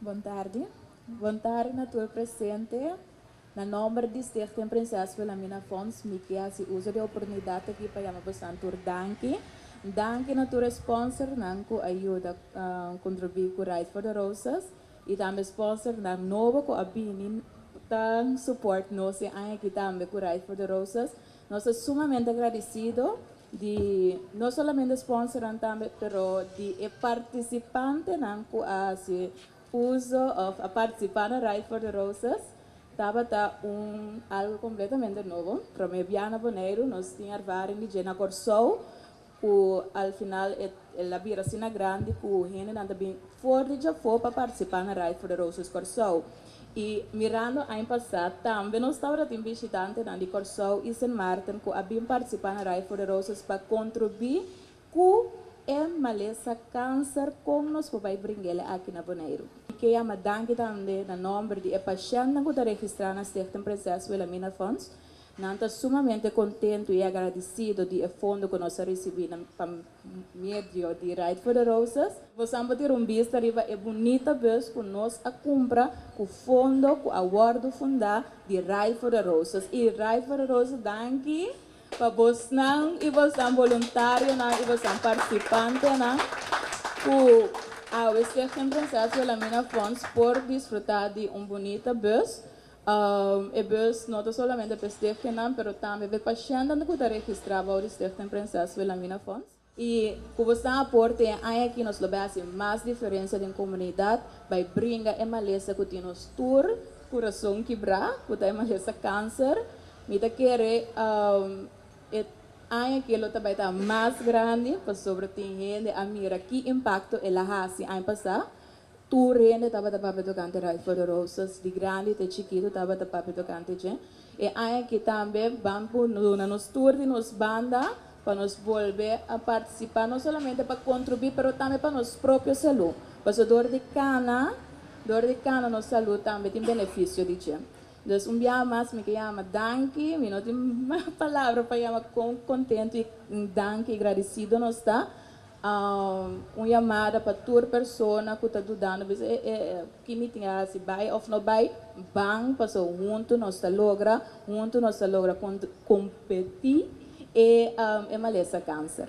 Bon tardi. Bon tardi na tur presente. Na nomber di Stichting Prinses Wilhelmina Fonds mi ke hasi uso di oportunidat aki pa yama bosan tur danki. Danki na tur e sponsornan ku a yuda kontribuí ku Ride for the Roses i tambe sponsornan nobo ku a bini ta support nos e aña aki tambe ku Ride for the Roses. Nos ta sumamente agradisido. di no solamente sponsornan tambe pero di e participantenan cu a haci uzo of a participa na Ride for the Roses tabata un algo completamente nobo. Prome bia na Boneiru nos tin ervaring di dje na Corsou cu al final el a bira asina grandi cu hendenan ta bin for di djafo pa participa na Ride for the Roses Corsou. I mirando aña pasá tambe nos tabatin bishitantenan di Kòrsou i Sint Maarten ku a bin partisipá na Rij voor de Roses pa kontribui ku e malesa kanser kon nos por bai bringele aki na Boneiru. Mi ke yama danki tambe na nòmber di e pashèntnan ku ta registrá na Stichting Prinses Wilhelmina Fonds. Nan ta sumamente kontentu i agradisido di e fondo ku nos a risibí na pa. Medio di Ride for the Roses. Bos an por tira un bista riba e bunita bus cu nos a cumpra cu fondo cu a wordo funda di Ride for the Roses. Y Ride for the Roses danki pa bosnan y bosnan boluntarionan y bosnan participantenan cu AWC Gemtransacio Lamina Fonds por disfruta di un bunita bus. E bus no ta solamente pa e stichtingnan, pero tambe pa e pashentenan ku ta registrá bou di Stichting Prinses Wilhelmina Fonds. I ku bo sta aporte e aña aki nos lo bai hasi mas diferensia den komunidat, bai bringa e malesa ku tin nos tur kurason kibrá, ku ta e malesa kanser. Mi ta kere e aña aki lo ta bai ta mas grandi, pasobra tin hende a mira ki impakto el a hasi aña pasá. Tur hende tabata papia tokante Ride for the Roses, di grandi te chikitu tabata papia tokante dje. E aña aki tambe ban por duna nos tur di nos banda pa nos bolbe a partisipá, no solamente pa kontrubuí pero tambe pa nos propio salú, paso dor di kana dor di kana nos salú tambe tin benefisio di dje. Dus un biaha mas mi ke yama danki, mi no tin palabra pa yama kon kontentu i danki i gradisido nos ta Un yamada pa tur persona ku ta dudando bis'a e e ki mi tin hasi, bai òf no bai? Ban, paso huntu nos ta logra, huntu nos ta logra kon kompetí e e malesa kanser.